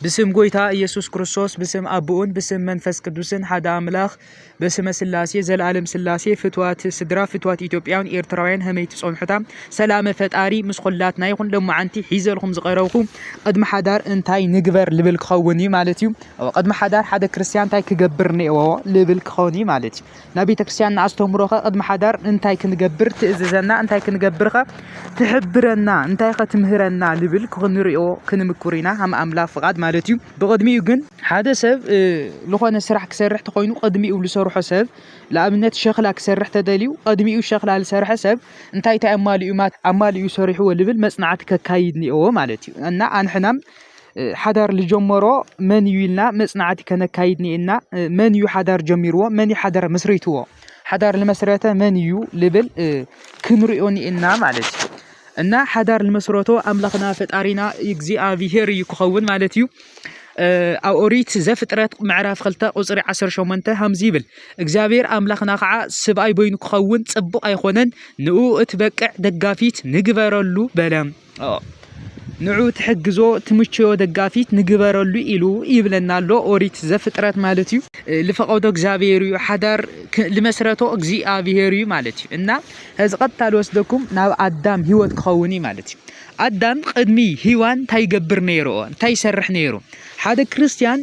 ብስም ጎይታ እየሱስ ክርስቶስ ብስም ኣቦኡን ብስም መንፈስ ቅዱስን ሓደ ኣምላኽ በስመ ስላሴ ዘለኣለም ስላሴ ፍትዋት ስድራ ፍትዋት ኢትዮጵያን ኤርትራውያን ሀመይ ትጸንሑታ ሰላመ ፈጣሪ ምስ ኹላትና ይኹን ሎማዓንቲ ሒዘልኩም ዝቐረብኩ ቅድሚ ሓዳር እንታይ ንግበር ልብል ክኸውን እዩ ማለት እዩ ቅድሚ ሓዳር ሓደ ክርስትያን እንታይ ክገብር ነዎ ልብል ክኸውን እዩ ማለት እዩ ናይ ቤተክርስቲያንና ኣስተምህሮኸ ቅድሚ ሓዳር እንታይ ክንገብር ትእዝዘና፣ እንታይ ክንገብርከ ትሕብረና፣ እንታይኸ ትምህረና ልብል ክንሪኦ ክንምኩር ኢና ሃም ኣምላኽ ፍቓድ ማለት እዩ። ብቕድሚኡ ግን ሓደ ሰብ ዝኾነ ስራሕ ክሰርሕ ተኾይኑ ቅድሚኡ ዝሰርሖ ሰብ ንኣብነት ሸኽላ ክሰርሕ ተደልዩ ቅድሚኡ ሸኽላ ዝሰርሐ ሰብ እንታይ እንታይ ኣማሊኡ ኣማሊኡ ሰሪሕዎ ልብል መጽናዕቲ ከካይድ ኒኦዎ ማለት እዩ እና ኣንሕናም ሓዳር ዝጀመሮ መን እዩ ኢልና መፅናዕቲ ከነካይድ እኒኤና። መን እዩ ሓዳር ጀሚርዎ? መን እዩ ሓዳር መስሪትዎ? ሓዳር ዝመስረተ መን እዩ ልብል ክንሪኦ እኒኤና ማለት እዩ። እና ሓዳር ዝመስረቶ ኣምላኽና ፈጣሪና እግዚኣብሄር እዩ ክኸውን ማለት እዩ። ኣብ ኦሪት ዘፍጥረት ምዕራፍ 2 ቁፅሪ 18 ከምዚ ይብል እግዚኣብሔር ኣምላኽና ከዓ ስብኣይ በይኑ ክኸውን ፅቡቕ ኣይኮነን ንኡ እትበቅዕ ደጋፊት ንግበረሉ በለ ንዑ ትሕግዞ ትምቸዮ ደጋፊት ንግበረሉ ኢሉ ይብለና ኣሎ ኦሪት ዘፍጥረት ማለት እዩ። ልፈቀዶ እግዚኣብሔር እዩ ሓዳር ልመስረቶ እግዚኣብሔር እዩ ማለት እዩ እና እዚ ቀጥታ ልወስደኩም ናብ ኣዳም ህይወት ክኸውን እዩ ማለት እዩ። ኣዳም ቅድሚ ሂዋን እንታይ ይገብር ነይሩ? እንታይ ይሰርሕ ነይሩ? ሓደ ክርስትያን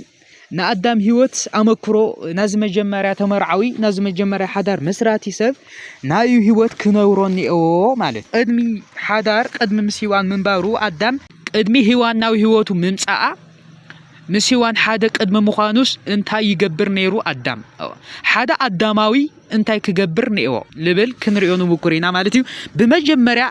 ንኣዳም ህይወት ኣመክሮ ናዚ መጀመርያ ተመርዓዊ ናዚ መጀመርያ ሓዳር መስራቲ ሰብ ናዩ ህይወት ክነብሮ እኒኦ ማለት ቅድሚ ሓዳር ቅድሚ ምስ ሂዋን ምንባሩ ኣዳም ቅድሚ ሂዋን ናብ ህይወቱ ምምፃኣ ምስ ሂዋን ሓደ ቅድሚ ምዃኑስ እንታይ ይገብር ነይሩ ኣዳም ሓደ ኣዳማዊ እንታይ ክገብር ኔዎ ልብል ክንሪኦ ንሙኩር ኢና ማለት እዩ ብመጀመርያ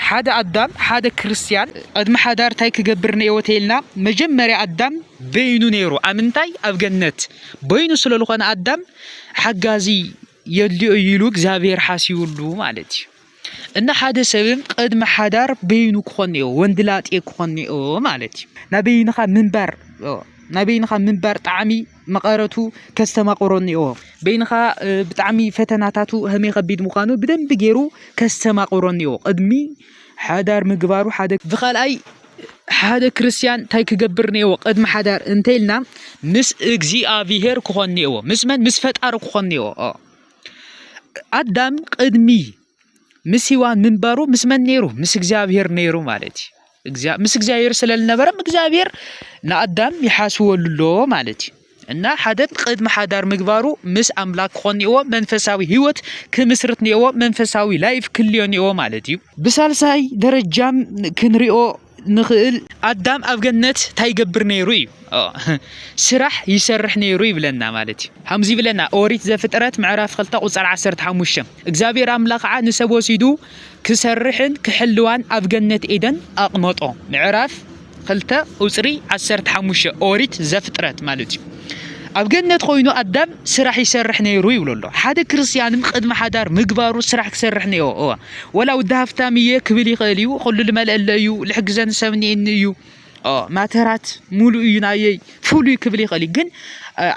ሓደ ኣዳም ሓደ ክርስትያን ቅድሚ ሓዳር እንታይ ክገብር ኔዎ ተይልና መጀመርያ ኣዳም በይኑ ነይሩ ኣብ ምንታይ ኣብ ገነት በይኑ ስለ ዝኾነ ኣዳም ሓጋዚ የድልዮ ኢሉ እግዚኣብሔር ሓሲብሉ ማለት እዩ እና ሓደ ሰብም ቅድሚ ሓዳር በይኑ ክኾን እዮ ወንድላጤ ክኾን እዮ ማለት እዩ ናይ በይንኻ ምንባር ናይ በይንኻ ምንባር ጣዕሚ መቐረቱ ከስተማቕሮን እዮ በይንኻ ብጣዕሚ ፈተናታቱ ህመይ ከቢድ ምዃኑ ብደንቢ ገይሩ ከስተማቕሮን እዮ ቅድሚ ሓዳር ምግባሩ ሓደ ብካልኣይ ሓደ ክርስትያን እንታይ ክገብር ነዎ ቅድሚ ሓዳር እንተይልና ምስ እግዚኣብሄር ክኾን ነዎ ምስ መን ምስ ፈጣሪ ክኾን ነዎ ኣዳም ቅድሚ ምስ ሂዋን ምንባሩ ምስ መን ነይሩ? ምስ እግዚኣብሄር ነይሩ ማለት እዩ። ምስ እግዚኣብሄር ስለ ዝነበረም እግዚኣብሄር ንኣዳም ይሓስበሉ ኣሎ ማለት እዩ። እና ሓደ ቅድሚ ሓዳር ምግባሩ ምስ ኣምላክ ክኾን እኒኦዎ መንፈሳዊ ህይወት ክምስርት እኒኦዎ መንፈሳዊ ላይፍ ክልዮ እኒኦዎ ማለት እዩ። ብሳልሳይ ደረጃም ክንሪኦ ንኽእል ኣዳም ኣብ ገነት እንታይ ይገብር ነይሩ እዩ ስራሕ ይሰርሕ ነይሩ ይብለና ማለት እዩ ከምዚ ይብለና ኦሪት ዘፍጥረት ምዕራፍ 2 ቁፅር 15 እግዚኣብሔር ኣምላኽ ከዓ ንሰብ ወሲዱ ክሰርሕን ክሕልዋን ኣብ ገነት ኤደን ኣቕመጦ ምዕራፍ 2 ቁፅሪ 15 ኦሪት ዘፍጥረት ማለት እዩ ኣብ ገነት ኮይኑ ኣዳም ስራሕ ይሰርሕ ነይሩ ይብሎ ኣሎ ሓደ ክርስትያንም ቅድሚ ሓዳር ምግባሩ ስራሕ ክሰርሕ ነይሩ ወላ ውዲ ሃፍታም እየ ክብል ይኽእል እዩ ኩሉ ልመልአለ እዩ ልሕግዘኒ ሰብ እኒኤኒ እዩ ማተራት ሙሉእ እዩ ናየይ ፍሉይ ክብል ይኽእል እዩ ግን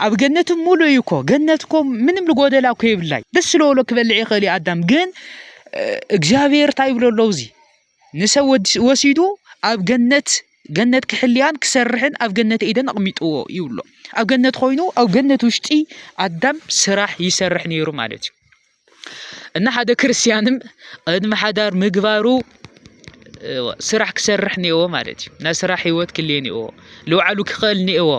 ኣብ ገነት ሙሉእ እዩ እኮ ገነት እኮ ምንም ልጎደላ እኮ የብላይ ደስ ስለበሎ ክበልዕ ይኽእል እዩ ኣዳም ግን እግዚኣብሔር እንታይ ይብሎ ኣለዉ እዚ ንሰብ ወሲዱ ኣብ ገነት ገነት ክሕልያን ክሰርሕን ኣብ ገነት ኤደን ኣቕሚጥዎ ይብሎ ኣብ ገነት ኮይኑ ኣብ ገነት ውሽጢ ኣዳም ስራሕ ይሰርሕ ነይሩ ማለት እዩ እና ሓደ ክርስትያንም ቅድሚ ሓዳር ምግባሩ ስራሕ ክሰርሕ ኒኤዎ ማለት እዩ ናይ ስራሕ ሂወት ክልየ ኒኤዎ ልውዓሉ ክኽእል ኒኤዎ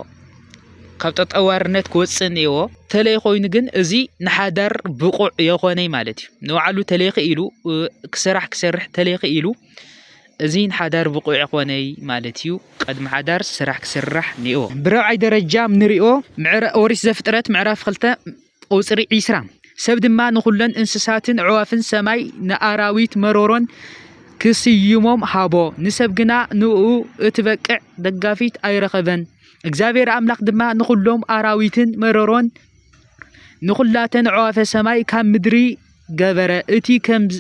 ካብ ጠጠዋርነት ክወፅእ ኒኤዎ ተለይ ኮይኑ ግን እዚ ንሓዳር ብቑዕ የኾነይ ማለት እዩ ንውዓሉ ተለይ ክኢሉ ስራሕ ክሰርሕ ተለይ ክኢሉ እዚ ንሓዳር ብቑዕ የኾነይ ማለት እዩ ቅድሚ ሓዳር ስራሕ ክስራሕ ኒኤዎ ብረብዓይ ደረጃ ንሪኦ ኦሪት ዘፍጥረት ምዕራፍ ክልተ ቁጽሪ ዒስራ፣ ሰብ ድማ ንኹለን እንስሳትን ኣዕዋፍን ሰማይ ንኣራዊት መሮሮን ክስይሞም ሃቦ፣ ንሰብ ግና ንእኡ እትበቅዕ ደጋፊት ኣይረኸበን። እግዚኣብሄር ኣምላኽ ድማ ንኹሎም ኣራዊትን መሮሮን ንኹላተን ኣዕዋፈ ሰማይ ካብ ምድሪ ገበረ፣ እቲ ከምዝ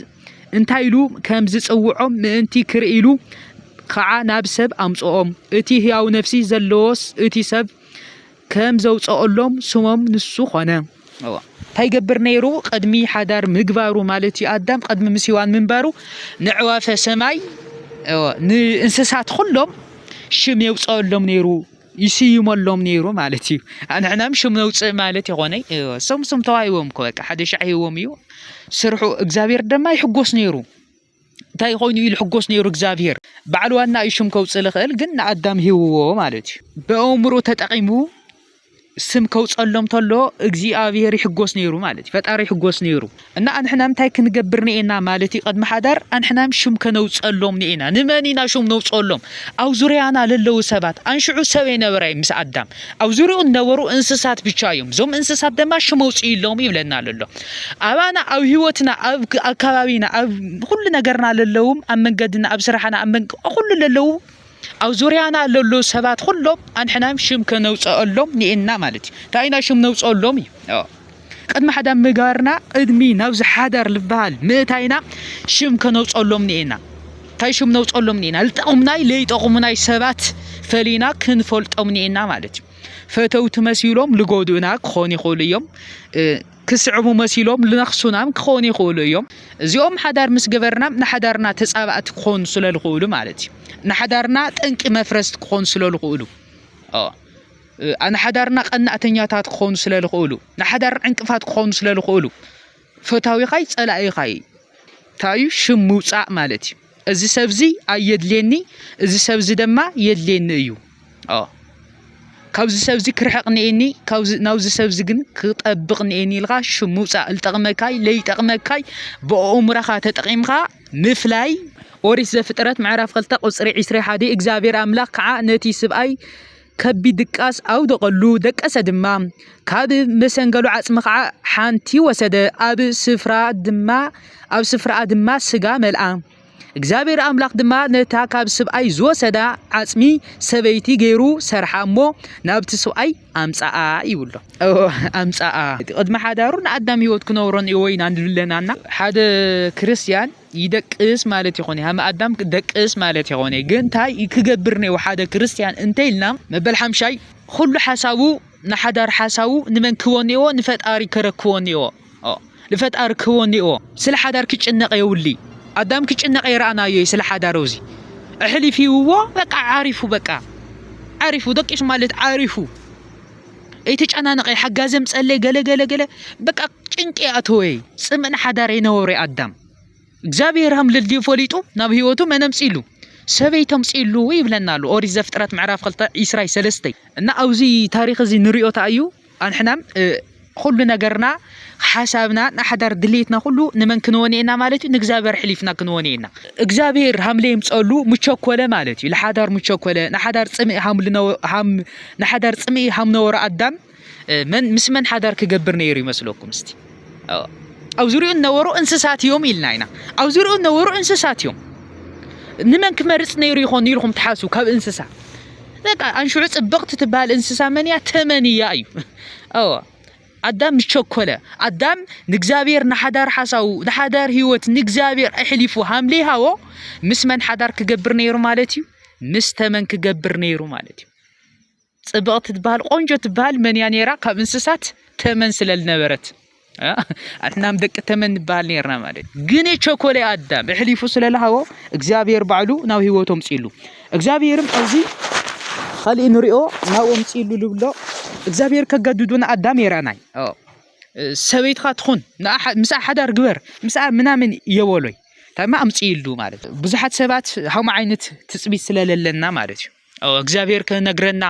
እንታይ ኢሉ ከም ዝጽውዖም ምእንቲ ክርኢ ኢሉ ኸዓ ናብ ሰብ ኣምጽኦም። እቲ ህያው ነፍሲ ዘለዎስ እቲ ሰብ ከም ዘውፀኦሎም ስሞም ንሱ ኾነ። እንታይ ይገብር ነይሩ? ቅድሚ ሓዳር ምግባሩ ማለት እዩ ኣዳም ቅድሚ ምስ ሂዋን ምንባሩ ንዕዋፈ ሰማይ ንእንስሳት ኩሎም ሽም የውፀኦሎም ነይሩ ይስይመሎም ነይሩ ማለት እዩ ኣንሕናም ሽም ነውፅእ ማለት ይኾነ ሶም ሶም ተዋሂቦም እኮ በቃ ሓደ ሻዕ ሂቦም እዩ ስርሑ እግዚኣብሔር ድማ ይሕጎስ ነይሩ እንታይ ኮይኑ እዩ ልሕጎስ ነይሩ እግዚኣብሄር ባዕሉ ዋና እዩ ሽም ከውፅእ ልኽእል ግን ንኣዳም ሂውዎ ማለት እዩ ብኣእምሮ ተጠቂሙ ስም ከውፀሎም ተሎ እግዚኣብሄር ይሕጎስ ነይሩ ማለት እዩ ፈጣሪ ይሕጎስ ነይሩ እና ኣንሕና እንታይ ክንገብር ንኤና ማለት እዩ ቅድሚ ሓዳር ኣንሕናም ሽም ከነውፀሎም ንኤና ንመን ኢና ሽም ነውፀሎም ኣብ ዙርያና ለለዉ ሰባት ኣንሽዑ ሰብ የነበረ ምስ ኣዳም ኣብ ዙርይኡ ነበሩ እንስሳት ብቻ እዮም እዞም እንስሳት ደማ ሽም ኣውፅእሎም ይብለና ኣሎ ኣባና ኣብ ህይወትና ኣብ ኣከባቢና ኣብ ኩሉ ነገርና ለለውም ኣብ መንገድና ኣብ ስራሕና ኣብ መንገ ኩሉ ለለው ኣብ ዙርያና ለሎ ሰባት ኩሎም ኣንሕናም ሽም ከነውፀአሎም ንኤና ማለት እዩ እንታይ ኢና ሽም ነውፀሎም እዩ ቅድሚ ሓዳር ምጋርና ቅድሚ ናብዚ ሓዳር ዝበሃል ምእታይና ሽም ከነውፀሎም ኒኤና እንታይ ሽም ነውፀሎም ኒኤና ልጠቕሙናይ ለይጠቕሙናይ ሰባት ፈሊና ክንፈልጦም ኒኤና ማለት እዩ ፈተውቲ መሲሎም ልጎድኡና ክኾኑ ይኽእሉ እዮም ክስዕቡ መሲሎም ልነኽሱናም ክኾኑ ይኽእሉ እዮም እዚኦም ሓዳር ምስ ገበርና ንሓዳርና ተፃባእቲ ክኾኑ ስለ ዝኽእሉ ማለት እዩ ንሓዳርና ጠንቂ መፍረስቲ ክኾኑ ስለ ዝኽእሉ ንሓዳርና ቀናእተኛታት ክኾኑ ስለ ዝኽእሉ፣ ንሓዳር ዕንቅፋት ክኾኑ ስለ ዝኽእሉ፣ ፈታዊኻይ ጸላኢኻይ እንታይ እዩ ሽም ምውጻእ ማለት እዩ። እዚ ሰብ እዚ ኣየድልየኒ፣ እዚ ሰብ እዚ ድማ የድልየኒ እዩ። ካብዚ ሰብ እዚ ክርሕቕ ንኤኒ፣ ናብዚ ሰብ እዚ ግን ክጠብቕ ንኤኒ ኢልካ ሽም ምውጻእ ዝጠቕመካይ ለይጠቕመካይ ብኣእምሮኻ ተጠቒምካ ምፍላይ ኦሪት ዘፍጥረት ምዕራፍ 2 ቁጽሪ 21 እግዚኣብሔር ኣምላኽ ከዓ ነቲ ስብኣይ ከቢድ ድቃስ ኣውደቐሉ፣ ደቀሰ ድማ። ካብ መሰንገሉ ዓጽሚ ኸኣ ሓንቲ ወሰደ፣ ኣብ ስፍራኣ ድማ ኣብ ስፍራኣ ድማ ስጋ መልኣ። እግዚኣብሔር ኣምላኽ ድማ ነታ ካብ ስብኣይ ዝወሰዳ ዓጽሚ ሰበይቲ ገይሩ ሰርሓ እሞ ናብቲ ስብኣይ ኣምጽኣ ይብሎ። ኣምጽኣ ቅድሚ ሓዳሩ ንኣዳም ህይወት ክነብሮን ወይና ንድለናና ሓደ ክርስቲያን ይደቅስ ማለት ይኾነ ሃመ ኣዳም ደቅስ ማለት ይኾነ ግን እንታይ ክገብር ነይዎ ሓደ ክርስትያን እንተይልና መበል ሓምሻይ ኩሉ ሓሳቡ ንሓዳር ሓሳቡ ንመን ክቦ ነይዎ ንፈጣሪ ከረክቦ ነይዎ ንፈጣሪ ክቦ ነይዎ ስለ ሓዳር ክጭነቀ የውሊ ኣዳም ክጭነቀ ይረኣናዮ ስለ ሓዳር ውዚ እሕሊፊውዎ በቃ ዓሪፉ በቃ ዓሪፉ ደቂሱ ማለት ዓሪፉ ኣይተጨናነቐይ ሓጋዘም ጸለይ ገለገለገለ በቃ ጭንቂ ኣተወይ ጽምእን ሓዳር ይነበሩ ኣዳም እግዚኣብሔር ሃም ልልድዩ ፈሊጡ ናብ ህይወቱ መነምጺሉ ሰበይ ተምጺሉ ይብለና ኣሉ ኦሪት ዘፍጥረት ምዕራፍ ክልተ ዒስራይ ሰለስተይ እና ኣብዚ ታሪክ እዚ ንሪኦ ተኣዩ ኣንሕናም ኩሉ ነገርና ሓሳብና ንሓዳር ድልየትና ኩሉ ንመን ክንወን ኢና ማለት እዩ ንእግዚኣብሔር ሕሊፍና ክንወን ኢና እግዚኣብሔር ሃምለ ይምፀሉ ምቸኮለ ማለት እዩ ንሓዳር ምቸኮለ ንሓዳር ፅምኢ ሃም ንሓዳር ፅምኢ ሃም ነበሮ ኣዳም መን ምስ መን ሓዳር ክገብር ነይሩ ይመስለኩም እስቲ ኣብ ዙሪኡ ነበሩ እንስሳት እዮም ኢልና ኢና ኣብ ዙሪኡ ነበሩ እንስሳት እዮም ንመን ክመርፅ ነይሩ ይኾን ኢልኩም ትሓስቡ ካብ እንስሳ በቃ ኣንሽዑ ፅብቕቲ ትበሃል እንስሳ መን እያ ተመን እያ እዩ ኣዳም ምስ ቸኮለ ኣዳም ንእግዚኣብሔር ንሓዳር ሓሳቡ ንሓዳር ህይወት ንእግዚኣብሔር ኣሕሊፉ ሃምለይ ሃቦ ምስ መን ሓዳር ክገብር ነይሩ ማለት እዩ ምስ ተመን ክገብር ነይሩ ማለት እዩ ፅብቕቲ ትበሃል ቆንጆ ትበሃል መን እያ ነይራ ካብ እንስሳት ተመን ስለልነበረት ኣሕናም ደቂ ተመን ንበሃል ነርና ማለት ግን ቸኮለ ኣዳም እሕሊፉ ስለልሃቦ እግዚኣብሔር ባዕሉ ናብ ህይወቶም ፅሉ እግዚኣብሄርም ኣብዚ ኻሊእ ንሪኦ ናብኡ ምፂ ኢሉ ዝብሎ እግዚኣብሄር ከገድዱ ንኣዳም የረኣናይ ሰበይትኻ ትኹን ምስኣ ሓዳር ግበር ምስኣ ምናምን የበሎይ ታይማ ኣምፂ ኢሉ ማለት ብዙሓት ሰባት ሃም ዓይነት ትፅቢት ስለለለና ማለት እዩ እግዚኣብሄር ክነግረና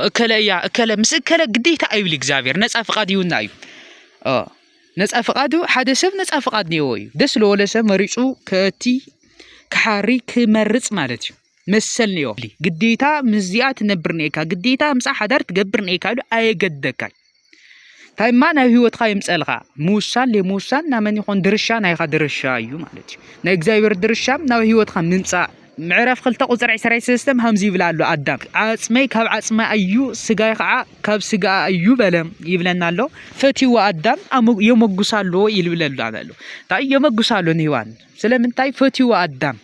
እከለ እያ እከለ ምስ እከለ ግዴታ ኣይብል እግዚኣብሄር ነፃ ፍቓድ ይውና እዩ ነፃ ፍቃዱ ሓደ ሰብ ነፃ ፍቃድ ኔዎ እዩ ደስ ለወለ ሰብ መሪፁ ከእቲ ክሓሪ ክመርፅ ማለት እዩ መሰል ኔዎ ግዴታ ምስዚኣ ትነብር ኔካ ግዴታ ምፃ ሓዳር ትገብር ኔካ ኢሉ ኣየገደካን እንታይ እማ ናብ ህይወትካ ይምፀልካ ምውሳን ለምውሳን ናመን ይኾን ድርሻ ናይኻ ድርሻ እዩ ማለት እዩ ናይ እግዚኣብሔር ድርሻ ናብ ህይወትካ ምምፃእ ምዕራፍ ክልተ ቁፅሪ ዕስራይ ሰለስተም ሃምዚ ይብላ ኣሎ ኣዳም ዓፅመይ ካብ ዓፅማ ኣዩ ስጋይ ከዓ ካብ ስጋ ኣዩ በለ ይብለና ኣሎ ፈትዎ ኣዳም የመጉሳ ኣሎ ይልብለሉ ኣሎ እንታይ የመጉሳ ኣሎ ንህዋን ስለምንታይ ፈትዎ ኣዳም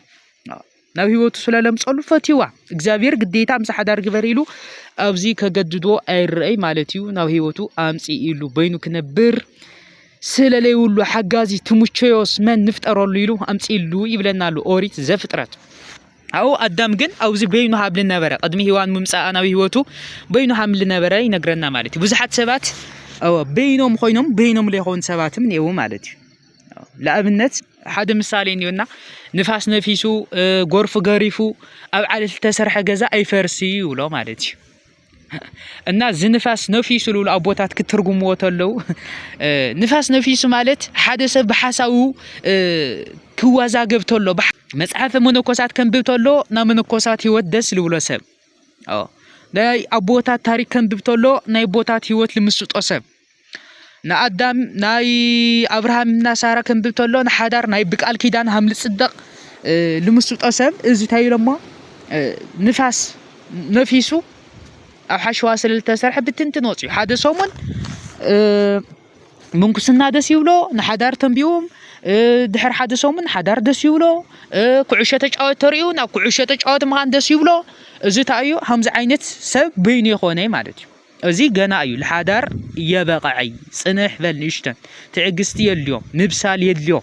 ናብ ህይወቱ ስለለምፀሉ ፈትዋ እግዚኣብሔር ግዴታ ምስ ሓዳር ግበር ኢሉ ኣብዚ ከገድዶ ኣይረአይ ማለት እዩ ናብ ህይወቱ ኣምፂ ኢሉ በይኑ ክነብር ስለለይብሉ ሓጋዚ ትምቸዮስ መን ንፍጠረሉ ኢሉ ኣምፅእሉ ይብለና ኣሎ ኦሪት ዘፍጥረት ኣው ኣዳም ግን ኣብዚ በይኑ ሃብሊ ነበረ ቅድሚ ሂዋን ምምፃኣ ናብ ህይወቱ በይኑ ሃምሊ ነበረ ይነግረና ማለት እዩ ብዙሓት ሰባት በይኖም ኮይኖም በይኖም ዘይኮኑ ሰባትም እኒአው ማለት እዩ ንኣብነት ሓደ ምሳሌ እኒኦና ንፋስ ነፊሱ ጎርፊ ገሪፉ ኣብ ዓለቲ ዝተሰርሐ ገዛ ኣይፈርስ እዩ ይብሎ ማለት እዩ እና እዚ ንፋስ ነፊሱ ዝብሉ ኣቦታት ክትርጉምዎ ተለው ንፋስ ነፊሱ ማለት ሓደ ሰብ ብሓሳቡ ክወዛገብ ተሎ መፅሓፈ መነኮሳት ከንብብ ተሎ ናብ መነኮሳት ህይወት ደስ ዝብሎ ሰብ ናይ ኣቦታት ታሪክ ከንብብ ተሎ ናይ ኣቦታት ህይወት ልምስጦ ሰብ ንኣዳም ናይ ኣብርሃም እና ሳራ ክንብል ተሎ ንሓዳር ናይ ብቃል ኪዳን ሃም ልጽደቅ ልምስጦ ሰብ እዚ እንታይ ኢሎሞ ንፋስ ነፊሱ ኣብ ሓሸዋ ስለ ዝተሰርሐ ብትንትን ወፅዩ ሓደ ሰሙን ምንኩስና ደስ ይብሎ ንሓዳር ተንቢዎም ድሕሪ ሓደ ሰሙን ሓዳር ደስ ይብሎ ኩዕሾ ተጫወት ተሪኡ ናብ ኩዕሾ ተጫወት ምኻን ደስ ይብሎ እዚ እንታይ እዩ ከምዚ ዓይነት ሰብ በይኑ የኾነ ማለት እዩ እዚ ገና እዩ ልሓዳር የበቐዐይ ጽንሕ በል ንእሽተን ትዕግስቲ የድልዮ ምብሳል የድልዮ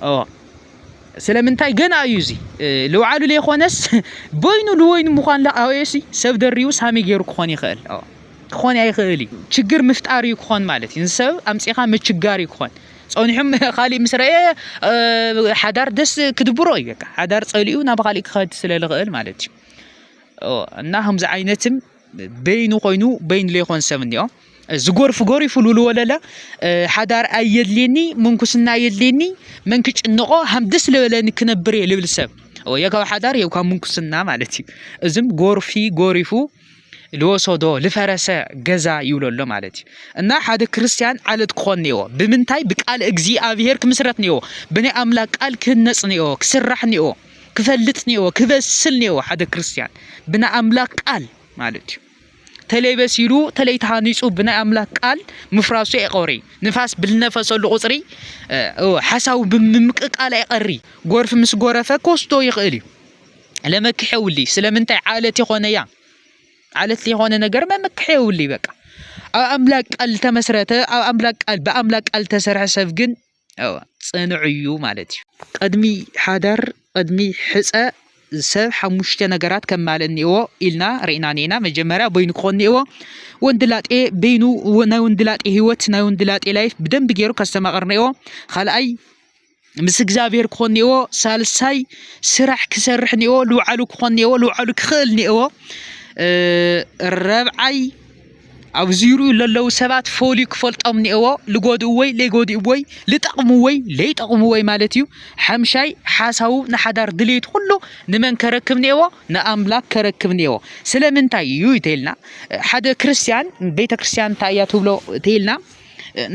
ኦ ስለምንታይ ገና እዩ እዚ ልውዓሉ ዘይኮነስ በይኑ ልወይኑ ምዃን ላኣወየሲ ሰብ ደሪቡ ሳሚ ገይሩ ክኾን ይኽእል ክኾን ኣይኽእል እዩ ችግር ምፍጣር እዩ ክኾን ማለት እዩ ንሰብ ኣምፂኻ ምችጋር እዩ ክኾን ፀኒሖም ካሊእ ምስ ረአ ሓዳር ደስ ክድብሮ እዩ በቃ ሓዳር ፀሊኡ ናብ ካሊእ ክኸድ ስለ ዝኽእል ማለት እዩ እና ከምዚ ዓይነትም በይኑ ኮይኑ በይኑ ዘይኮን ሰብ እኒኦ ዝጎርፍ ጎሪፉ ሉሉ ወለለ ሓዳር ኣየድልየኒ ምንኩስና ኣየድልየኒ መን ክጭንቆ ሃም ደስ ዝበለኒ ክነብር እየ ልብል ሰብ ወይ ካብ ሓዳር ወይ ካብ ምንኩስና ማለት እዩ እዝም ጎርፊ ጎሪፉ ልወሰዶ ልፈረሰ ገዛ ይብሎ ኣሎ ማለት እዩ እና ሓደ ክርስቲያን ዓለት ክኾን ነዎ ብምንታይ ብቃል እግዚኣብሄር ክምስረት ነዎ ብናይ ኣምላክ ቃል ክህነፅ ነዎ ክስራሕ ነዎ ክፈልጥ ኔዎ ክበስል ኔዎ ሓደ ክርስትያን ብናይ ኣምላክ ቃል ማለት እዩ ተለይ በሲሉ ተለይ ተሃኒፁ ብናይ ኣምላክ ቃል ምፍራሱ ኣይቀሪ ንፋስ ብልነፈሰሉ ቁፅሪ ሓሳቡ ብምምቅቃል ኣይቀሪ ጎርፊ ምስ ጎረፈ ኮስቶ ይኽእል እዩ ለመክሕ የውልይ ስለምንታይ ዓለት የኾነ እያ ዓለት የኾነ ነገር መመክሕ የውልይ በቃ ኣብ ኣምላክ ቃል ተመስረተ ኣብ ኣምላክ ቃል ብኣምላክ ቃል ተሰርሐ ሰብ ግን ፅኑዕ እዩ ማለት እዩ። ቕድሚ ሓዳር ቕድሚ ሕፀ ሰብ ሓሙሽተ ነገራት ከማልእ እኒኤዎ ኢልና ርኢና እኒኤና። መጀመርያ በይኑ ክኾን እኒኤዎ። ወንድላጤ በይኑ ናይ ወንድላጤ ህይወት ናይ ወንድላጤ ላይፍ ብደንብ ገይሩ ከስተማቕር እኒኤዎ። ካልኣይ ምስ እግዚኣብሔር ክኾን እኒኤዎ። ሳልሳይ ስራሕ ክሰርሕ እኒኤዎ። ልውዓሉ ክኾን እኒኤዎ። ልውዓሉ ክኽእል እኒኤዎ። ረብዓይ ኣብዚ ዝሪኡ ለለዉ ሰባት ፈልዩ ክፈልጦም ኒኤዎ ልጎድእዎይ ለይጎድእዎይ ልጠቕምዎይ ለይጠቕምዎይ ማለት እዩ ሓምሻይ ሓሳቡ ንሓዳር ድሌት ኩሉ ንመን ከረክብ ኒኤዎ ንኣምላክ ከረክብ ኒኤዎ ስለምንታይ እዩ ተይልና ሓደ ክርስትያን ቤተ ክርስትያን እንታይ እያ ትብሎ ተይልና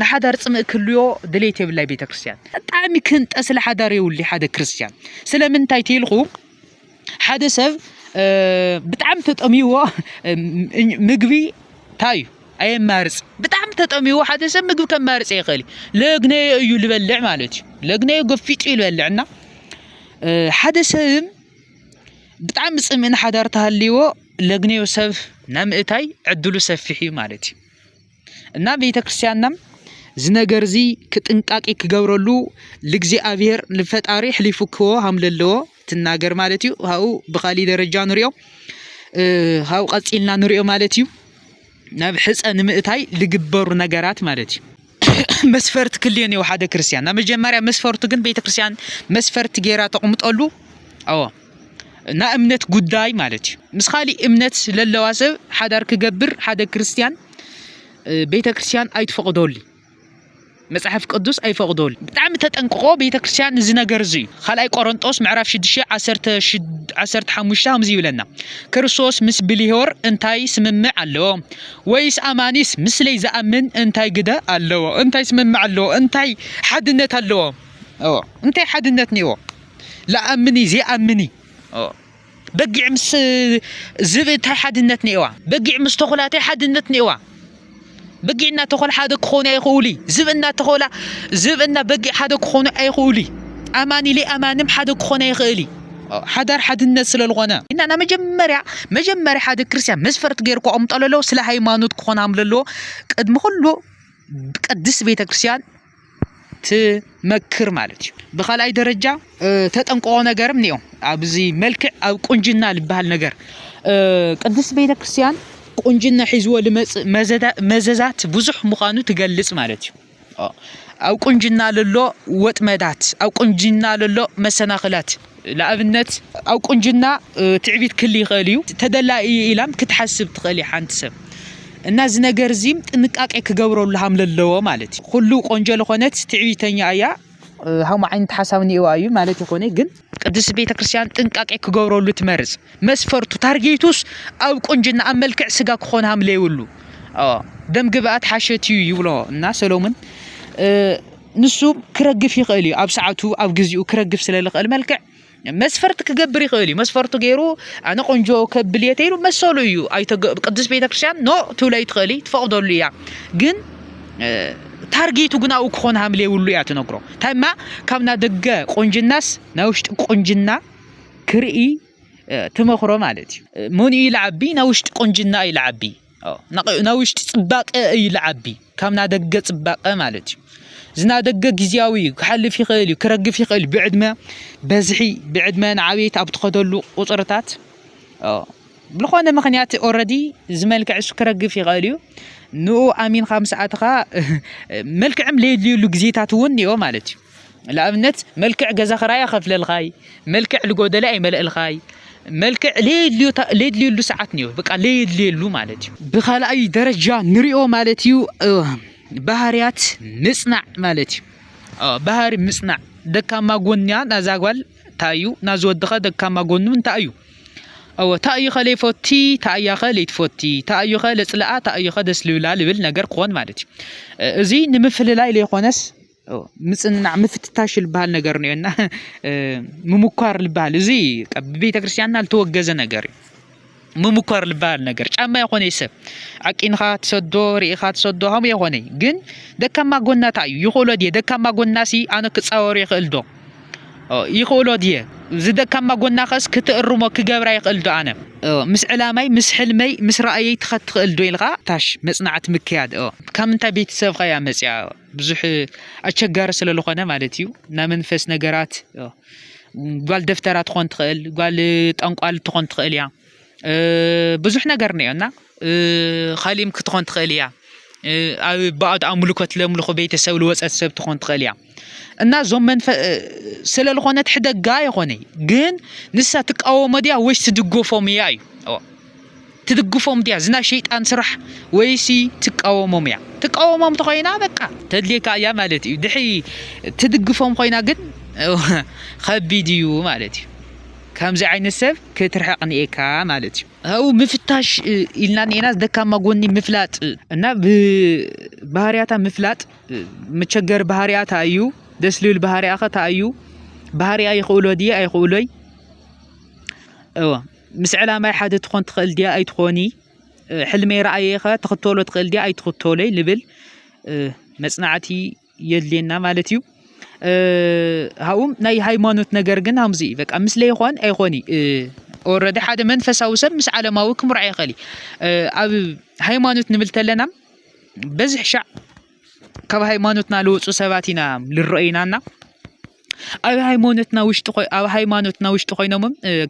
ንሓዳር ፅምእ ክልዮ ድሌት የብላይ ቤተ ክርስትያን ብጣዕሚ ክንጠስለ ሓዳር የውሊ ሓደ ክርስትያን ስለምንታይ ተይልኹ ሓደ ሰብ ብጣዕሚ ተጠሚዎ ምግቢ እንታይ እዩ ኣየማርፅ ብጣዕሚ ተጠሚዎ ሓደ ሰብ ምግቢ ከማርፅ ይኽእል እዩ ለግነዮ እዩ ዝበልዕ ማለት እዩ ለግነዮ ገፊጡ እዩ ዝበልዕ እና ሓደ ሰብ ብጣዕሚ ፅምእን ሓዳር ተሃልይዎ ለግነዮ ሰብ ናይ ምእታይ ዕድሉ ሰፊሕ እዩ ማለት እዩ እና ቤተ ክርስቲያንናም እዚ ነገር እዚ ክጥንቃቄ ክገብረሉ ልእግዚኣብሔር ልፈጣሪ ሕሊፉ ክዎ ሃም ለለዎ ትናገር ማለት እዩ ሃኡ ብካሊ ደረጃ ንሪኦ ሃኡ ቀፂልና ንሪኦ ማለት እዩ ናብ ሕፀ ንምእታይ ልግበሩ ነገራት ማለት እዩ መስፈርት ክልዮን እዩ ሓደ ክርስቲያን ናብ መጀመርያ መስፈርቱ ግን ቤተ ክርስቲያን መስፈርት ገይራ ተቕምጠሉ ኣዎ ናይ እምነት ጉዳይ ማለት እዩ ምስ ካሊእ እምነት ለለዋ ሰብ ሓዳር ክገብር ሓደ ክርስትያን ቤተ ክርስትያን ኣይትፈቕደሉ እዩ መጽሓፍ ቅዱስ ኣይፈቕደሉ ብጣዕሚ ተጠንቅቆ ቤተ ክርስትያን እዚ ነገር እዚ እዩ ካልኣይ ቆሮንጦስ ምዕራፍ 6 15 ከምዚ ይብለና ክርስቶስ ምስ ብልዮር እንታይ ስምምዕ ኣለዎ ወይስ ኣማኒስ ምስለይ ዝኣምን እንታይ ግደ ኣለዎ እንታይ ስምምዕ ኣለዎ እንታይ ሓድነት ኣለዎ እንታይ ሓድነት ነይዎ ለኣምኒ ዜኣምኒ በጊዕ ምስ ዝብኢ ታይ ሓድነት ኔዋ በጊዕ ምስ ተኹላ ታይ ሓድነት ኔዋ በጊዕ እና ተኾላ ሓደ ክኾኑ ኣይኽእሉ ዝብኢ እና ተኾላ ዝብኢ እና በጊዕ ሓደ ክኾኑ ኣይኽእሉ ኣማኒ ሌኣማንም ሓደ ክኾነ ኣይኽእሊ ሓዳር ሓድነት ስለዝኾነ እና ና መጀመርያ መጀመርያ ሓደ ክርስቲያን መስፈርት ገይሩ ከቐምጠሉ ኣለዎ ስለ ሃይማኖት ክኾን ኣለዎ ቅድሚ ኩሉ ቅድስት ቤተ ክርስቲያን ትመክር ማለት እዩ ብካልኣይ ደረጃ ተጠንቀቆ ነገርም እኒኦ ኣብዚ መልክዕ ኣብ ቁንጅና ዝበሃል ነገር ቅድስት ቤተ ክርስቲያን ቁንጅና ሒዝዎ ልመፅእ መዘዛት ብዙሕ ምዃኑ ትገልፅ ማለት እዩ ኣብ ቁንጅና ለሎ ወጥመዳት ኣብ ቁንጅና ለሎ መሰናኽላት ንኣብነት ኣብ ቁንጅና ትዕቢት ክል ይኽእል እዩ። ተደላኢ እዩ ኢላም ክትሓስብ ትኽእል ሓንቲ ሰብ እና እዚ ነገር እዚ ጥንቃቄ ክገብረሉ ሃም ለለዎ ማለት እዩ። ኩሉ ቆንጆ ለኾነት ትዕቢተኛ እያ ሃሙ ዓይነት ሓሳብ ኒኤዋ እዩ ማለት ይኾነ ግን ቅድስት ቤተ ክርስቲያን ጥንቃቄ ክገብረሉ ትመርጽ። መስፈርቱ ታርጌቱስ ኣብ ቁንጅና ኣብ መልክዕ ስጋ ክኾን ሃም ለይብሉ ደም ግብኣት ሓሸት እዩ ይብሎ እና ሰሎምን ንሱ ክረግፍ ይኽእል እዩ ኣብ ሰዓቱ ኣብ ግዜኡ ክረግፍ ስለ ዝኽእል መልክዕ መስፈርቲ ክገብር ይኽእል እዩ መስፈርቱ ገይሩ ኣነ ቆንጆ ከብል እየ ተይሉ መሰሉ እዩ ቅዱስ ቤተ ክርስቲያን ኖ ትብሎ ይትኽእል ትፈቕደሉ እያ ግን ታርጌቱ ግን ኣብኡ ክኾን ሃምል የብሉ እያ ትነግሮ ታይማ ካብ ና ደገ ቆንጅናስ ናይ ውሽጢ ቆንጅና ክርኢ ትመኽሮ ማለት እዩ መን እዩ ይልዓቢ ናይ ውሽጢ ቆንጅና እዩ ልዓቢ ናይ ውሽጢ ፅባቀ እዩ ልዓቢ ካብ ናደገ ፅባቀ ማለት እዩ ዝናደገ ግዝያዊ እዩ ክሓልፍ ይኽእል እዩ ክረግፍ ይኽእል እዩ ብዕድመ በዝሒ ብዕድመ ንዓብየት ኣብ ትኸደሉ ቁፅርታት ብልኾነ ምኽንያት ኦረዲ ዝመልክዕ እሱ ክረግፍ ይኽእል እዩ ንኡ ኣሚንካ ምስ ኣተኻ መልክዕም ለየድልየሉ ግዜታት እውን እዮ ማለት እዩ ንኣብነት መልክዕ ገዛ ክራይ ኣኸፍለልካይ፣ መልክዕ ልጎደለ ኣይመልእልካይ፣ መልክዕ ለየድልየሉ ሰዓት እኒኦ፣ በቃ ለየድልየሉ ማለት እዩ። ብካልኣይ ደረጃ ንሪኦ ማለት እዩ ባህርያት ምፅናዕ ማለት እዩ። ባህሪ ምፅናዕ ደካማ ጎንያ ናዛ ጓል እንታይ እዩ፣ ናዚ ወድኸ ደካማ ጎኑ እንታይ እዩ? እወ ታእዩኸ ለይፈቲ ታእያኸ ለይትፈቲ ታእዩኸ ለፅልኣ ታእዩኸ ደስ ልብላ ልብል ነገር ክኾን ማለት እዩ። እዚ ንምፍልላይ ለይኮነስ ምጽንናዕ ምፍትታሽ ዝበሃል ነገር እኒኦ እና ምሙኳር ዝበሃል እዚ ብቤተ ክርስቲያንና ዝተወገዘ ነገር እዩ ምሙኳር ዝበሃል ነገር ጫማ የኾነ ሰብ ዓቂንኻ ትሰዶ ርኢኻ ትሰዶ ከምኡ የኾነ ግን ደካማ ጎና እንታይ እዩ ይኽእሎ ድየ ደካማ ጎና ሲ ኣነ ክፃወሮ ይኽእል ዶ ይኽእሎ ድየ እዚ ደካማ ጎና ከስ ክትእርሞ ክገብራ ይኽእል ዶ ኣነ ምስ ዕላማይ ምስ ሕልመይ ምስ ራእየይ ትኸት ትኽእል ዶ ኢልካ ታሽ መፅናዕቲ ምክያድ ካብ ምንታይ ቤተሰብካ እያ መፅያ ብዙሕ ኣቸጋሪ ስለ ዝኾነ ማለት እዩ ናይ መንፈስ ነገራት ጓል ደፍተራ ትኾን ትኽእል ጓል ጠንቋል ትኾን ትኽእል እያ ብዙሕ ነገር እኒኦ እና ኻሊእም ክትኾን ትኽእል እያ ኣብ ባዕድ ኣምልኮት ለምልኹ ቤተሰብ ዝወፀት ሰብ ትኾን ትኽእል እያ እና እዞም መንፈ ስለ ዝኾነት ሕደጋ የኾነ ግን ንሳ ትቃወሞ ድያ ወይስ ትድገፎም እያ እዩ ትድግፎም ድያ እዚ ናይ ሸይጣን ስራሕ ወይሲ ትቃወሞም እያ ትቃወሞም ተኮይና በቃ ተድልየካ እያ ማለት እዩ ድሕሪ ትድግፎም ኮይና ግን ከቢድ እዩ ማለት እዩ ከምዚ ዓይነት ሰብ ክትርሕቕ ንኤካ ማለት እዩ ኣብኡ ምፍታሽ ኢልና ንኤና ደካማ ጎኒ ምፍላጥ እና ብባህርያታ ምፍላጥ መቸገሪ ባህርያ እታ እዩ ደስ ልብል ባህርያ ኸ እታ እዩ ባህርያ ይኽእሎ ድየ ኣይኽእሎይ እወ ምስ ዕላማይ ሓደ ትኾን ትኽእል ድያ ኣይትኾኒ ሕልመይ ረኣየኸ ትኽተሎ ትኽእል ድያ ኣይትኽተሎይ ልብል መፅናዕቲ የድልየና ማለት እዩ ሃኡም ናይ ሃይማኖት ነገር ግን ሃምዚ እዩ በቃ ምስ ለይኾን ኣይኾን እዩ ኦረዲ ሓደ መንፈሳዊ ሰብ ምስ ዓለማዊ ክምርዖ ይኽእል እዩ ኣብ ሃይማኖት ንብል ተለና በዝሕ ሻዕ ካብ ሃይማኖትና ልወፁ ሰባት ኢና ልረኦይናና ኣብ ሃይማኖትና ውሽጢ ኣብ ሃይማኖትና ውሽጢ ኮይኖም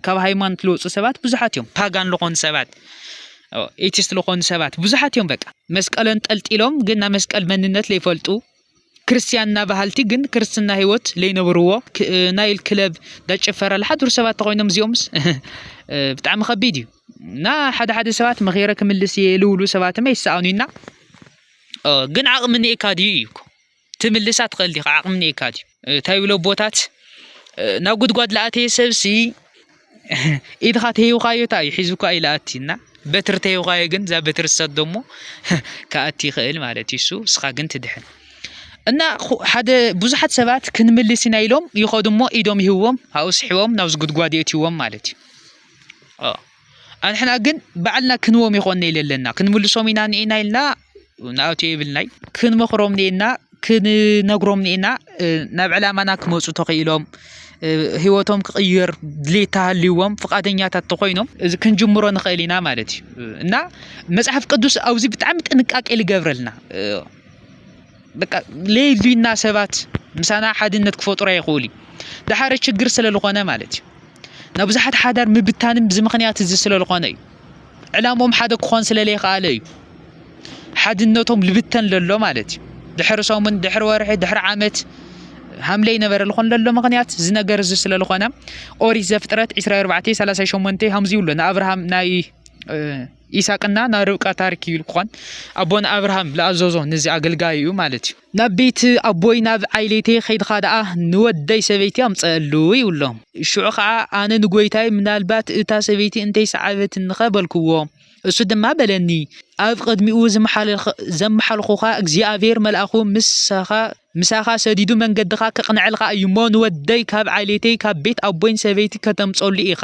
ካብ ሃይማኖት ልወፁ ሰባት ብዙሓት እዮም ፓጋን ዝኾኑ ሰባት ኤቲስት ዝኾኑ ሰባት ብዙሓት እዮም በቃ መስቀል እንጠልጢሎም ግን ናይ መስቀል መንነት ለይፈልጡ ክርስትያንና ባህልቲ ግን ክርስትና ህይወት ለይነብርዎ ናይል ክለብ ዳጭፈረ ዝሓድሩ ሰባት ተኮይኖም እዚኦምስ ብጣዕሚ ከቢድ እዩ እና ሓደ ሓደ ሰባት መኼረ ክምልስ እየ ልብሉ ሰባትም ኣይሰኣኑና ግን ዓቕሚ እኒኤካ ድዩ እዩ እኮ ትምልሳ ትኽእል ዲኻ ዓቕሚ እኒኤካ ድዩ እንታይ ይብሎ ኣቦታት ናብ ጉድጓድ ለኣተየ ሰብሲ ኢድኻ ተሂውካዮ እታ እዩ ሒዙካ እዩ ለኣቲ እና በትሪ ተሂውካዮ ግን እዛ በትሪ ሰት ደሞ ከኣቲ ይኽእል ማለት እዩ እሱ እስኻ ግን ትድሕን እና ሓደ ብዙሓት ሰባት ክንምልስ ኢና ኢሎም ይኸዱ እሞ ኢዶም ይህዎም ኣብኡ ስሕቦም ናብዚ ጉድጓድ የእትዎም ማለት እዩ ኣንሕና ግን ባዕልና ክንዎም ይኾን ነይ ለለና ክንምልሶም ኢና ኒኤና ኢልና ንኣቱ የብልናይ ክንመኽሮም ኒኤና ክንነግሮም ኒኤና ናብ ዕላማና ክመፁ ተኽኢሎም ህይወቶም ክቕይር ድሌት ተሃልዎም ፍቓደኛታት ተኾይኖም እዚ ክንጅምሮ ንኽእል ኢና ማለት እዩ እና መፅሓፍ ቅዱስ ኣብዚ ብጣዕሚ ጥንቃቄ ልገብረልና በቃ ለይልና ሰባት ምሳና ሓድነት ክፈጥሩ ኣይኽእሉ ድሓረ ችግር ስለዝኾነ ማለት እዩ ናብ ብዙሓት ሓዳር ምብታንም ብዚ ምክንያት እዚ ስለዝኾነ እዩ ዕላሞም ሓደ ክኾን ስለለይከኣለ እዩ ሓድነቶም ልብተን ለሎ ማለት እዩ ድሕሪ ሰሙን ድሕሪ ወርሒ ድሕሪ ዓመት ሃምለ ይነበረ ዝኾን ለሎ ምክንያት እዚ ነገር እዚ ስለዝኾነ ኦሪት ዘፍጥረት 24 38 ከምዚ ይብሎ ንኣብርሃም ናይ ኢሳቅና ናይ ርብቃ ታሪክ እዩ ልኳን ኣቦና ኣብርሃም ልኣዘዞ ንዚ ኣገልጋይ እዩ ማለት እዩ ናብ ቤት ኣቦይ ናብ ዓይሌቴ ከይድካ ደኣ ንወደይ ሰበይቲ ኣምፀኣሉ ይብሎ ሽዑ ከዓ ኣነ ንጎይታይ ምናልባት እታ ሰበይቲ እንተይሰዓበትኒኸ በልክዎ እሱ ድማ በለኒ ኣብ ቅድሚኡ ዘመሓልኹኻ እግዚኣብሔር መልኣኹ ምሳኻ ምሳኻ ሰዲዱ መንገድኻ ከቕንዐልካ እዩ እሞ ንወደይ ካብ ዓሌተይ ካብ ቤት ኣቦይን ሰበይቲ ከተምፀሉ ኢኻ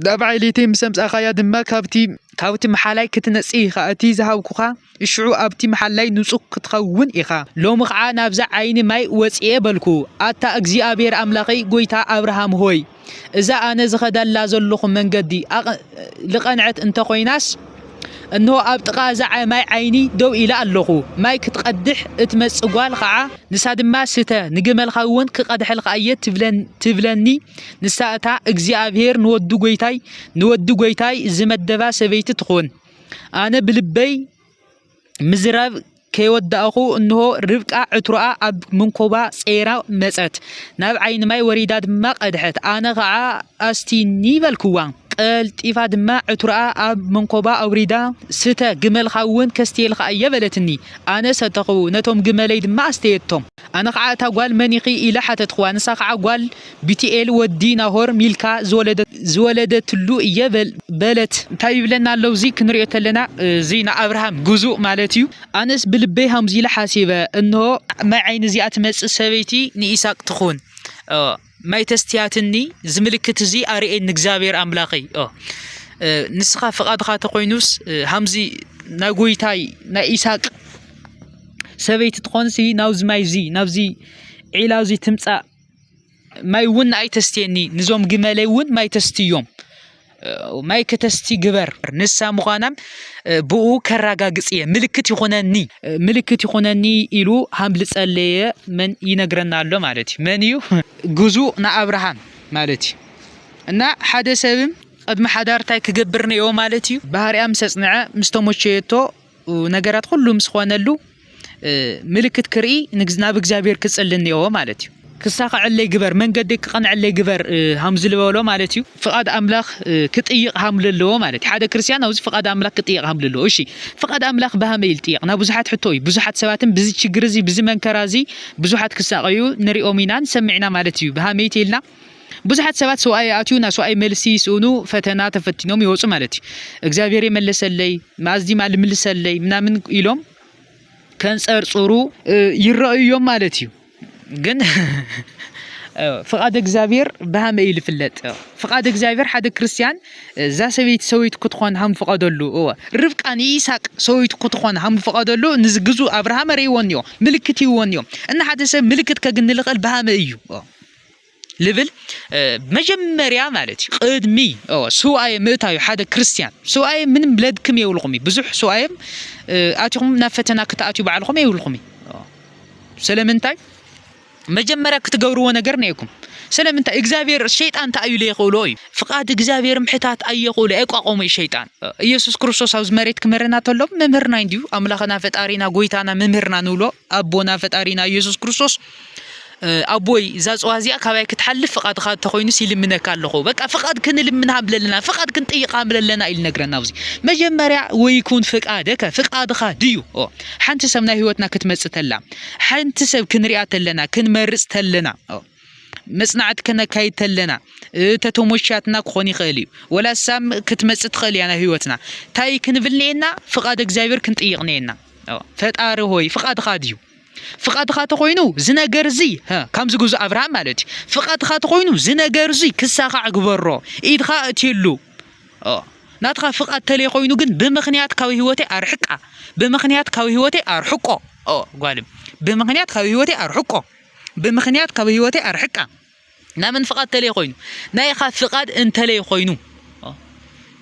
ናብ ዓሌተይ ምስ ኣምጻእካያ ድማ ካብቲ ካብቲ መሓላይ ክትነጽህ ኢኻ፣ እቲ ዝሃብኩኻ እሽዑ ኣብቲ መሓላይ ንጹህ ክትኸውን ኢኻ። ሎሚ ኸዓ ናብዛ ዓይኒ ማይ ወጺኤ በልኩ። ኣታ እግዚኣብሄር ኣምላኸይ ጐይታ ኣብርሃም ሆይ፣ እዛ ኣነ ዝኸደላ ዘሎኹ መንገዲ ልቐንዐት እንተ ኾይናስ፣ እንሆ ኣብ ጥቓ እዛ ማይ ዓይኒ ደው ኢለ ኣሎኹ። ማይ ክትቐድሕ እትመጽእ ጓል ኸኣ፣ ንሳ ድማ፣ ስተ፣ ንግመልካውን ክቐድሐልካ እየ፣ ትብለኒ። ንሳ እታ እግዚኣብሄር ንወዱ ጐይታይ፣ ንወዲ ጐይታይ ዝመደባ ሰበይቲ ትኹን። ኣነ ብልበይ፣ ምዝራብ ከይወዳእኹ እንሆ ርብቃ ዕትሮኣ ኣብ መንኮባ ጸይራ መጸት። ናብ ዓይኒ ማይ ወሪዳ ድማ ቀድሐት። ኣነ ኸኣ ኣስቲኒ በልክዋ። ቀልጢፋ ድማ ዕትሮኣ ኣብ መንኮባ ኣውሪዳ ስተ፣ ግመልካ እውን ከስትየልካ እየ በለትኒ። ኣነ ሰተኹ፣ ነቶም ግመለይ ድማ ኣስተየቶም። ኣነ ኸዓ እታ ጓል መን ኢኺ ኢለ ሓተትኹዋ ንሳ ኸዓ ጓል ቢቲኤል ወዲ ናሆር ሚልካ ዝወለደትሉ እየ በለት። እንታይ ይብለና ኣሎ እዚ ክንሪኦ ተለና እዚ ንኣብርሃም ግዙእ ማለት እዩ። ኣነስ ብልበይ ሃምዚ ኢለ ሓሲበ እንሆ ናይ ዓይኒ እዚኣ ትመጽእ ሰበይቲ ንኢሳቅ ትኹን። ማይ ተስትያትኒ ዝምልክት እዚ ኣርኤን ንእግዚኣብሔር ኣምላኸይ ንስኻ ፍቓድኻ ተኾይኑስ ሃምዚ ናይ ጎይታይ ናይ ኢሳቅ ሰበይቲ ትኾንሲ ናብዚ ማይ እዚ ናብዚ ዒላ እዚ ትምፃእ ማይ እውን ንኣይ ተስትየኒ ንዞም ግመለይ እውን ማይ ተስትዮም ማይ ከተስቲ ግበር ንሳ ምዃና ብኡ ከራጋግጽ እየ ምልክት ይኾነኒ ምልክት ይኾነኒ ኢሉ ሃም ዝጸለየ መን ይነግረና ኣሎ ማለት እዩ መን እዩ ግዙ ንኣብርሃም ማለት እዩ እና ሓደ ሰብም ቅድሚ ሓዳር እንታይ ክገብር ነዮ ማለት እዩ ባህርያ ምስ ኣጽንዐ ምስ ተመቸየቶ ነገራት ኩሉ ምስ ኾነሉ ምልክት ክርኢ ናብ እግዚኣብሔር ክጽሊ እኒኦዎ ማለት እዩ ክሳኸዐለይ ግበር መንገዲ ክቐንዐለይ ግበር ሃም ዝበሎ ማለት እዩ ፍቓድ ኣምላኽ ክጥይቕ ሃም ለለዎ ማለት እዩ ሓደ ክርስቲያን ኣብዚ ፍቓድ ኣምላኽ ክጥይቕ ሃም ለለዎ እሺ ፍቓድ ኣምላኽ ብሃመይ ይጥየቕ ናብ ብዙሓት ሕቶ እዩ ብዙሓት ሰባትን ብዚ ችግር እዚ ብዚ መንከራ እዚ ብዙሓት ክሳቐዩ ንሪኦም ኢና ንሰምዕ ኢና ማለት እዩ ብሃመይቲ ኢልና ብዙሓት ሰባት ሰውኣይ ይኣትዩ ናብ ሰውኣይ መልሲ ይስእኑ ፈተና ተፈቲኖም ይወፁ ማለት እዩ እግዚኣብሔር የመለሰለይ መኣዝ ዲማ ልምልሰለይ ምናምን ኢሎም ከንፀርፅሩ ይረኣዩ እዮም ማለት እዩ ግን ፍቓድ እግዚኣብሔር ብሃመ እዩ ዝፍለጥ ፍቓድ እግዚኣብሔር ሓደ ክርስትያን እዛ ሰበይቲ ሰበይቱ ክትኾን ሃም ፍቐደሉ እወ ርብቃ ንኢሳቅ ሰበይቱ ክትኾን ሃም ፍቐደሉ ንዚ ግዙእ ኣብርሃም ኣርእይዎን እዮ ምልክት ይዎን እዮ እና ሓደ ሰብ ምልክት ከግንልቕል ብሃመ እዩ ልብል መጀመርያ ማለት እዩ ቅድሚ ስውኣየ ምእታዩ ሓደ ክርስትያን ስውኣየ ምንም ለድክም የብልኹም እዩ ብዙሕ ስውኣየም ኣትኹም ናብ ፈተና ክትኣትዩ ባዕልኹም የብልኹም እዩ ስለምንታይ መጀመርያ ክትገብርዎ ነገር ነይኩም ስለምንታይ እግዚኣብሔር ሸይጣን እንታይ እዩ ለይኽእሎ እዩ ፍቓድ እግዚኣብሔር ምሕታት ኣየኽእሎ ኣይቋቆሙ እዩ ሸይጣን ኢየሱስ ክርስቶስ ኣብዚ መሬት ክምህረና ተሎ መምህርና እንዲዩ ኣምላኽና ፈጣሪና ጎይታና መምህርና ንብሎ ኣቦና ፈጣሪና ኢየሱስ ክርስቶስ ኣቦይ እዛ ፅዋ እዚኣ ካባይ ክትሓልፍ ፍቓድካ እንተኮይኑስ ይልምነካ ኣለኹ በቃ ፍቓድ ክንልምን ሃምለ ኣለና ፍቓድ ክንጥይቅ ሃምለ ኣለና ኢሉ ነግረና ኣብዚ መጀመርያ ወይኩን ፍቃደከ ፍቃድካ ድዩ ሓንቲ ሰብ ናይ ህይወትና ክትመፅ ተላ ሓንቲ ሰብ ክንሪኣ ተለና ክንመርፅ ተለና መጽናዕቲ ከነካይድ ተለና ተተሞሻትና ክኾን ይኽእል እዩ ወላ ሳም ክትመጽእ ትኽእል እያ ናብ ህይወትና እንታይ ክንብል ነየና ፍቓድ እግዚኣብሔር ክንጥይቕ ነየና ፈጣሪ ሆይ ፍቓድኻ ድዩ ፍቓድኻ ተኾይኑ እዚ ነገር እዚ ከምዚ ግዙ ኣብርሃም ማለት እዩ ፍቓድኻ ተኾይኑ እዚ ነገር እዚ ክሳኻዕ ግበሮ ኢድኻ እትየሉ ናትኻ ፍቓድ ተለይ ኮይኑ ግን ብምክንያት ካብ ህይወተይ ኣርሕቃ ብምክንያት ካብ ህይወተይ ኣርሕቆ ጓልም ብምክንያት ካብ ህይወተይ ኣርሕቆ ብምክንያት ካብ ህይወተይ ኣርሕቃ ናመን ፍቃድ ተለይ ኮይኑ ናይኻ ፍቃድ እንተለይ ኮይኑ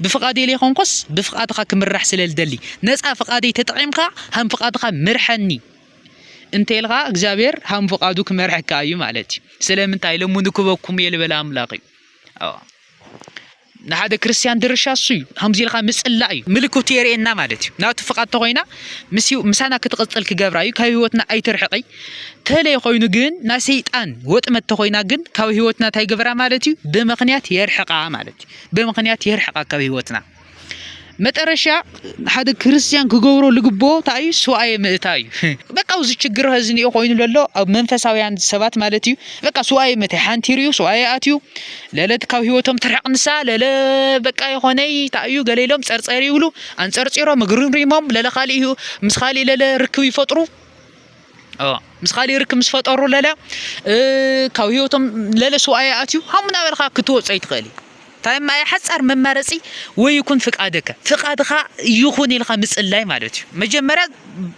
ብፍቃደይ ዘይኮንኮስ ብፍቃድኻ ክምራሕ ስለ ዝደሊ ነፃ ፍቃደይ ተጠቒምካ ሃም ፍቃድኻ ምርሐኒ እንተልካ እግዚኣብሔር ሃም ፍቃዱ ክመርሐካ እዩ ማለት እዩ ስለምንታይ ለሙኑ ክበኩም እየ ልበለ ኣምላኽ እዩ ንሓደ ክርስትያን ድርሻ እሱ እዩ ከምዚ ኢልካ ምጽላእ እዩ ምልክቱ የርእየና ማለት እዩ ናቱ ፍቃድ ተኮይና ምሳና ክትቕጽል ክገብራ እዩ ካብ ህይወትና ኣይትርሕቀይ ተለይ ኮይኑ ግን ናይ ሰይጣን ወጥመድ ተኮይና ግን ካብ ህይወትና እንታይ ግበራ ማለት እዩ ብምክንያት የርሕቃ ማለት እዩ ብምክንያት የርሕቃ ካብ ህይወትና መጠረሻ ሓደ ክርስትያን ክገብሮ ልግቦ እንታይ እዩ ሱባኤ ምእታ እዩ በቃ እዚ ችግር ኸዚ እኒኦ ኮይኑ ለሎ ኣብ መንፈሳውያን ሰባት ማለት እዩ በቃ ሱባኤ ምእታ ሓንቲ ይርዩ ሱባኤ ኣትዩ ለለ ካብ ህይወቶም ትርሕቕ ንሳ ለለ በቃ የኾነይ እንታይ እዩ ገለ ኢሎም ጸርጸር ይብሉ ኣንጸርጺሮም እግርሪሞም ለለ ካልእ ምስ ካልእ ለለ ርክብ ይፈጥሩ ምስ ካሊእ ርክብ ምስ ፈጠሩ ለለ ካብ ህይወቶም ለለ ስዋኣይ ኣትዩ ሃም ናበልካ ክትወፆ ይትኽእል እዩ እንታይ ማይ ሓፃር መማረፂ ወይ ይኩን ፍቃድከ ፍቃድካ ይኹን ኢልካ ምፅላይ ማለት እዩ መጀመርያ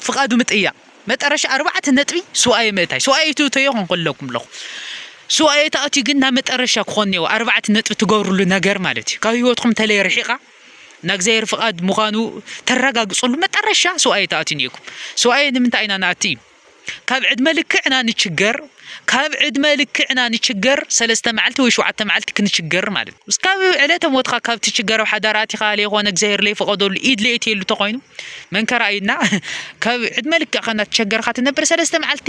ፍቃዱ ምጥያ መጠረሻ ኣርባዕተ ነጥቢ ስዋኣይ ምእታይ ስዋኣይ ትእተዮ ክንክለኩም ኣለኹ ስዋኣይ ተኣትዩ ግን ናብ መጠረሻ ክኾን እኒዎ ኣርባዕተ ነጥቢ ትገብርሉ ነገር ማለት እዩ ካብ ህይወትኩም ተለይ ርሒቃ ናይ እግዚኣብሔር ፍቃድ ምዃኑ ተረጋግፅሉ መጠረሻ ሰውኣየ ተኣትዩ ኔኩም ሰውኣየ ንምንታይ ኢና ንኣቲ ካብ ዕድመ ልክዕና ንችገር ካብ ዕድመ ልክዕና ንችገር ሰለስተ መዓልቲ ወይ ሸውዓተ መዓልቲ ክንችገር ማለት እዩ እስካብ ዕለተ ሞትካ ካብ ትችገር ኣብ ሓዳር ኣቲኻ ለይኮነ እግዚኣብሔር ለይፈቐደሉ ኢድ ለየትየሉ ተኾይኑ መንከራ ኢድና ካብ ዕድመ ልክዕካ እናተቸገርካ ትነብር ሰለስተ መዓልቲ